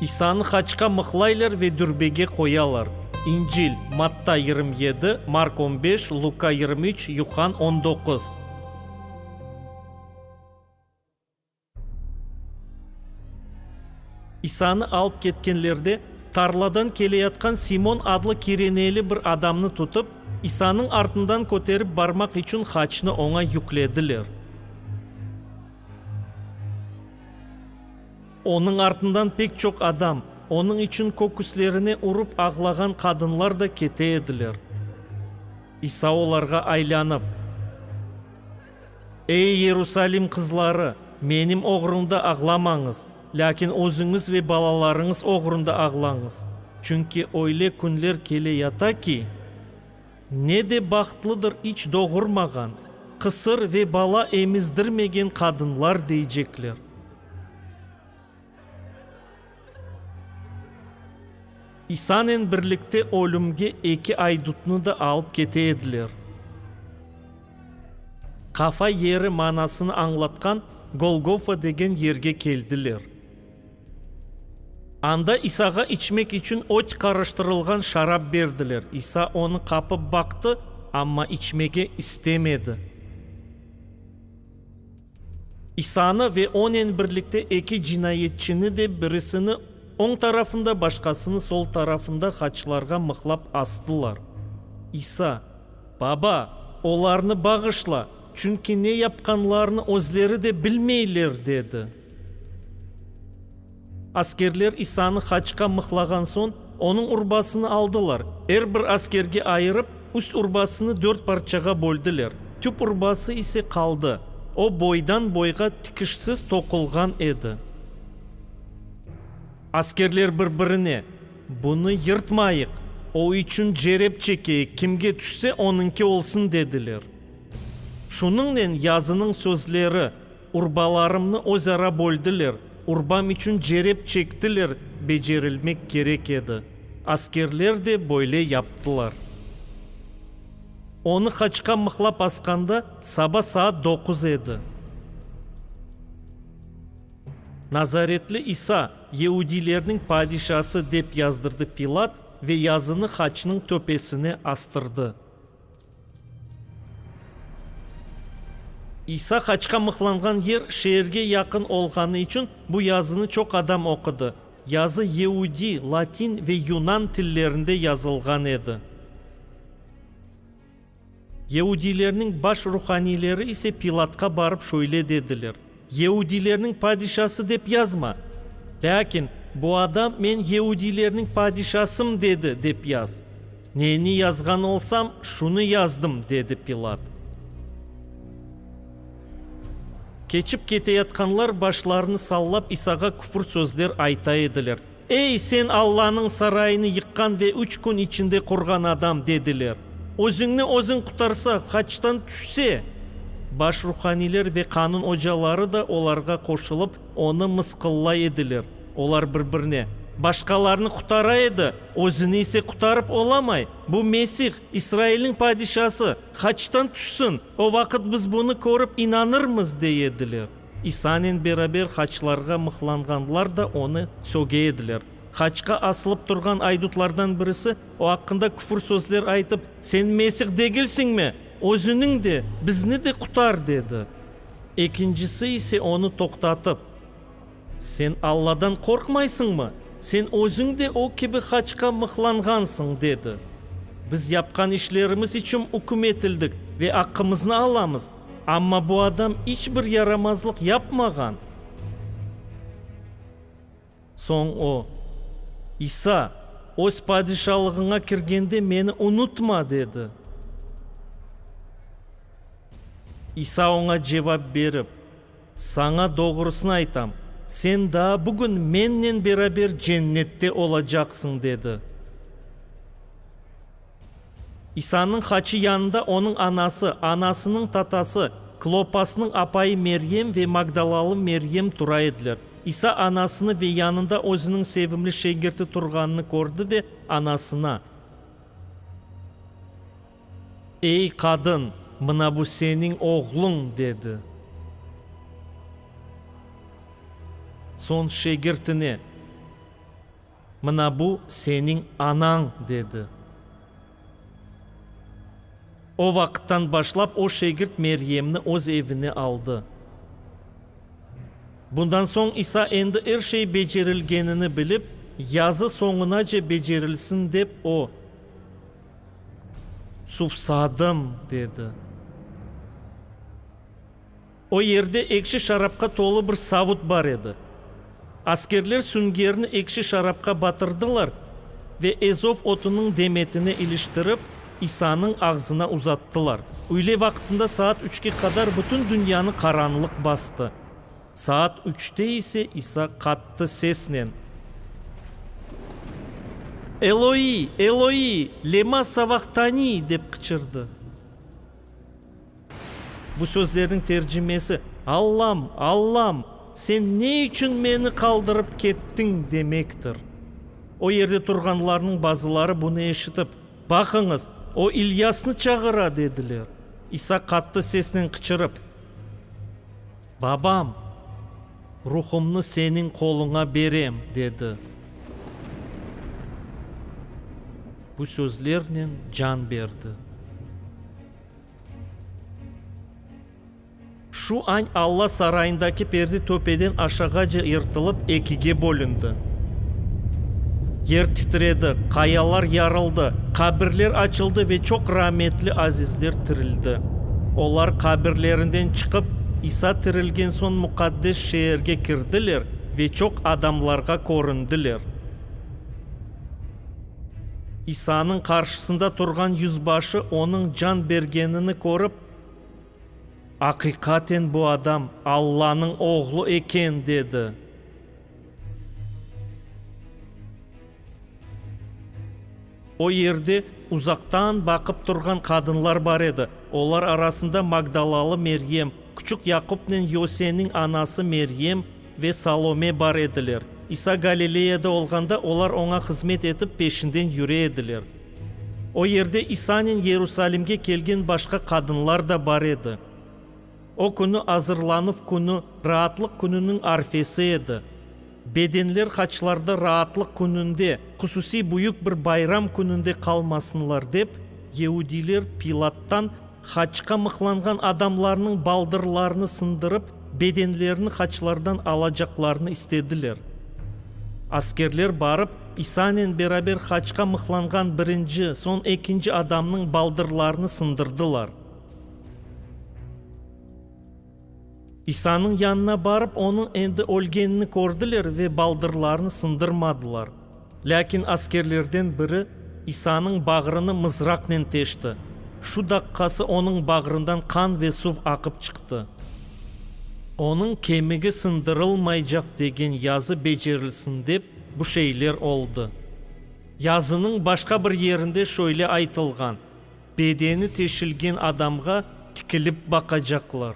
İsanı haçqa mıqlaylar ve dürbege qoyalar. İncil, Matta yirmi yedi, Mark on beş, Luka yirmi üç, Yuhann on doquz. İsanı alıp ketkenlerde, tarladan keleyatqan Simon adlı kireneyli bir adamnı tutıp, İsanıñ artından köterip barmaq içün haçnı oña yüklediler. Onıñ artından pek çoq adam, onıñ içün köküslerine urıp ağlağan qadınlar da kete ediler. İsa olarğa aylanıp, Ey, Yerusalim qızları, menim oğrumda ağlamañız, lâkin özüñiz ve balalarıñız oğrunda ağlañız, çünki öyle künler kele yata ki, Ne de bahtlıdır iç doğurmağan, qısır ve bala emizdirmegen qadınlar deycekler. İsanen birlikte ölümge eki aydutnı da alıp kete ediler. Qafa yeri manasını añlatqan Golgofa degen yerge keldiler. Anda İsağa içmek içün öt qarıştırılğan şarap berdiler. İsa onı qapıp baqtı, amma içmege istemedi. İsanı ve onen birlikte eki cinayetçini de, birisini oñ tarafında, başqasını sol tarafında haçlarğa mıqlap astılar. İsa, Baba, olarnı bağışla, çünki ne yapqanlarını özleri de bilmeyler, dedi. Askerler İsanı haçqa mıqlağan soñ, onıñ urbasını aldılar, er bir askerge ayırıp, üst urbasını dört parçağa böldiler, tüp urbası ise qaldı, o, boydan-boyğa tikişsiz toqulğan edi. Askerler bir-birine, Bunı yırtmayıq, o içün cerep çekeyik, kimge tüşse, onıñki olsun, dediler. Şunıñnen yazınıñ sözleri. Urbalarımnı özara böldiler, urbam içün cerep çektiler, becerilmek kerek edi. Askerler de böyle yaptılar. Onı qaçqa mıqlap asqanda saba saat doquz edi. Nazaretli İsa, Yeudilerniñ padişası dep yazdırdı Pilat ve yazını haçnıñ töpesine astırdı. İsa haçqa mıqlanğan yer şeerge yaqın olğanı içün bu yazını çoq adam oqudı. Yazı yeudiy, latin ve yunan tillerinde yazılğan edi. Yeudiylerniñ baş ruhaniyleri ise Pilatqa barıp şöyle dediler, Yeudilerniñ padişası dep yazma, lâkin bu adam men yeudilerniñ padişasım dedi, dep yaz. Neni yazğan olsam, şunı yazdım, dedi Pilat. Keçip keteyatqanlar başlarını sallap İsağa küfür sözler ayta ediler. Ey, sen Allanıñ sarayını yıqqan ve üç kün içinde qurğan adam! dediler. Özüñni özüñ qurtarsa, haçtan tüşse! Baş ruhaniyler ve qanun ocaları da olarğa qoşulıp, onı mısqıllay ediler. Olar bir-birine, Başqalarnı qurtara edi, özüni ise qurtarıp olamay! Bu Mesih, İsrailniñ padişası, haçtan tüşsin, o vaqıt biz bunı körip inanırmız! dey ediler. İsanen beraber haçlarğa mıhlanğanlar da onı söge ediler. Haçqa asılıp turğan aydutlardan birisi, o aqqında küfür sözler aytıp, Sen Mesih degilsiñmi? Özüniñ de, bizni de qutar! dedi. Ekincisi ise onı toqtatıp, Sen Alladan qorqmaysıñmı? Sen özüñ de o kibi haçqa mıhlanğansıñ! dedi. Biz yapqan işlerimiz içün üküm etildik ve aqqımıznı alamız. Amma bu adam iç bir yaramazlıq yapmağan. Soñ o, İsa, Öz padişalığıña kirgende meni unutma, dedi. İsa oña cevap berip, Saña doğrusını aytam, sen daa bugün mennen beraber Cennette olacaqsıñ, dedi. İsannıñ haçı yanında onıñ anası, anasınıñ tatası, Klopasnıñ apayı Meryem ve magdalalı Meryem tura ediler. İsa anasını ve yanında özüniñ sevimli şegirti turğanını kördi ve anasına, Ey, qadın, mına bu seniñ oğluñ! dedi. Soñ şegirtine. Mına bu seniñ anañ, dedi. O vaqıttan başlap o şegirt Meryemni öz evine aldı. Bundan soñ İsa endi er şey becerilgenini bilip, yazı soñunace becerilsin dep o, Suvsadım, dedi. O yerde ekşi şarapqa tolu bir savut bar edi. Askerler süngerni ekşi şarapqa batırdılar ve ezov otunıñ demetine iliştirip, İsanıñ ağzına uzattılar. Üyle vaqtında saat üçke qadar bütün dünyanı qaranlıq bastı. Saat üçte ise İsa qattı sesnen, Eloi, Eloi, lema savahtani? dep qıçırdı. Bu sözlerniñ tercimesi, Allam, Allam, sen ne içün meni qaldırıp kettiñ? demektir. O yerde turğanlarnıñ bazıları bunı eşitip, Baqıñız, o İlyasnı çağıra, dediler. İsa qattı sesnen qıçırıp. Babam, ruhumnı seniñ qoluña berem, dedi. Bu sözlernen can berdi. Şu añ Alla sarayındaki perde töpeden aşağıca yırtılıp, ekige bölündi. Yer titredi, qayalar yarıldı, qabirler açıldı ve çoq rametli azizler tirildi. Olar qabirlerinden çıqıp, İsa tirilgen soñ Muqaddes şeerge kirdiler ve çoq adamlarğa köründiler. İsanıñ qarşısında turğan yüzbaşı onıñ can bergenini körip, Aqiqaten bu adam Allanıñ Oğlu eken, dedi. O yerde uzaqtan baqıp turğan qadınlar bar edi, olar arasında Magdalalı Meryem, küçük Yaqupnen Yoseniñ anası Meryem ve Salome bar ediler. İsa Galileyada olğanda olar oña hızmet etip peşinden yüre ediler. O yerde İsanen Yerusalimge kelgen başqa qadınlar da bar edi. O künü Azırlanuv künü, Raatlıq kününiñ arfesi edi. Bedenler Haçlarda raatlıq kününde, hususiy büyük bir bayram kününde qalmasınlar dep, yeudiyler Pilattan haçqa mıqlanğan adamlarnıñ baldırlarını sındırıp, bedenlerini haçlardan alacaqlarını istediler. Askerler barıp, İsanen beraber haçqa mıqlanğan birinci, soñ ekinci adamnıñ baldırlarını sındırdılar. İsanıñ yanına barıp, onıñ endi ölgenini kördiler ve baldırlarını sındırmadılar. Lâkin askerlerden biri İsanıñ bağrını mızraqnen teşti. Şu daqqası onıñ bağrından qan ve suv aqıp çıqtı. Onıñ kemigi sındırılmaycaq degen yazı becerilsin dep, bu şeyler oldı. Yazınıñ başqa bir yerinde şöyle aytılğan. Bedeni teşilgen adamğa tikilip baqacaqlar.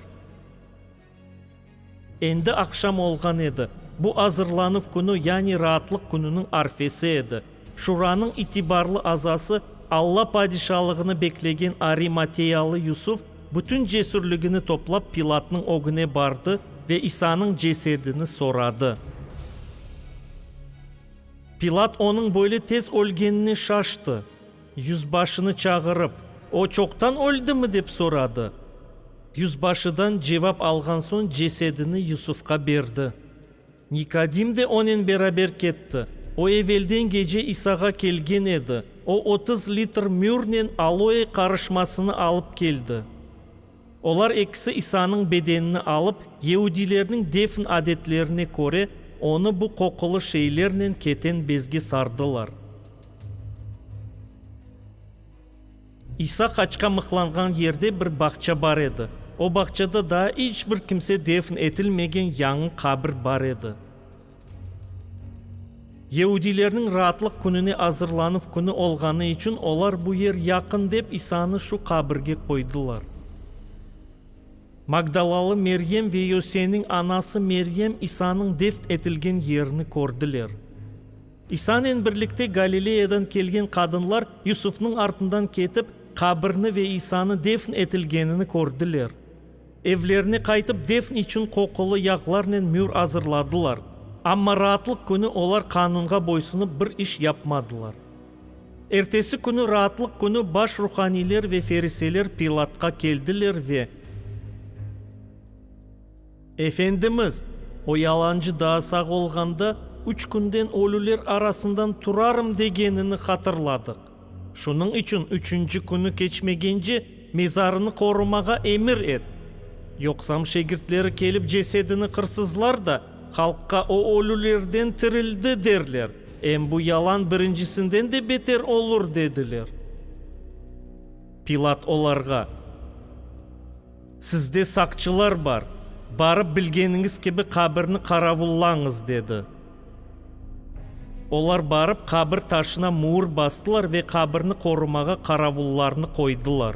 Endi aqşam olğan edi. Bu azırlanuv künü, yani raatlıq kününiñ arfesi edi. Şuranıñ itibarlı azası, Alla padişalığını beklegen arimateyalı Yusuf bütün cesürligini toplap Pilatnıñ ögüne bardı ve İsanıñ cesedini soradı. Pilat onıñ böyle tez ölgenine şaştı. Yüzbaşını çağırıp, o çoqtan öldimi? dep soradı. Yüzbaşıdan cevap alğan soñ cesedini Yusufqa berdi. Nikodim de onen beraber ketti. O evelden gece İsağa kelgen edi. O otuz litr mürnen aloe qarışmasını alıp keldi. Olar ekisi İsanıñ bedenini alıp, yeudilerniñ defn adetlerine köre, onı bu qoqulı şeylernen keten bezge sardılar. İsa qaçqa mıqlanğan yerde bir bağça bar edi. O bağçada daa iç bir kimse defn etilmegen yañı qabir bar edi. Yeudilerniñ Raatlıq Kününe azırlanuv künü olğanı içün olar bu yer yaqın dep İsanı şu qabirge qoydılar. Magdalalı Meryem ve Yoseniñ anası Meryem İsanıñ defn etilgen yerini kördiler. İsanen birlikte Galileya'dan kelgen qadınlar Yusufnıñ artından ketip, qabirni ve İsanı defn etilgenini kördiler. Evlerine qaytıp defn içün qoqulı yağlarnen mür azırladılar, amma raatlıq künü olar qanunğa boysunıp bir iş yapmadılar. Ertesi künü raatlıq künü baş ruhaniyler ve feriseler Pilatqa keldiler ve. Efendimiz, o yalancı daa sağ olğanda, üç künden ölüler arasından turarım degenini hatırladıq. Şunıñ içün üçünci künü keçmegence mezarını qorumağa emir et. Yoqsam şegirtleri kelip cesedini qırsızlar da, halqqa o ölülerden tirildi derler, em bu yalan birincisinden de beter olur, dediler. Pilat olarğa. Sizde saqçılar bar, barıp bilgeniñiz kibi qabirni qaravullañız, dedi. Olar barıp qabir taşına muur bastılar ve qabirni qorumağa qaravullarnı qoydılar.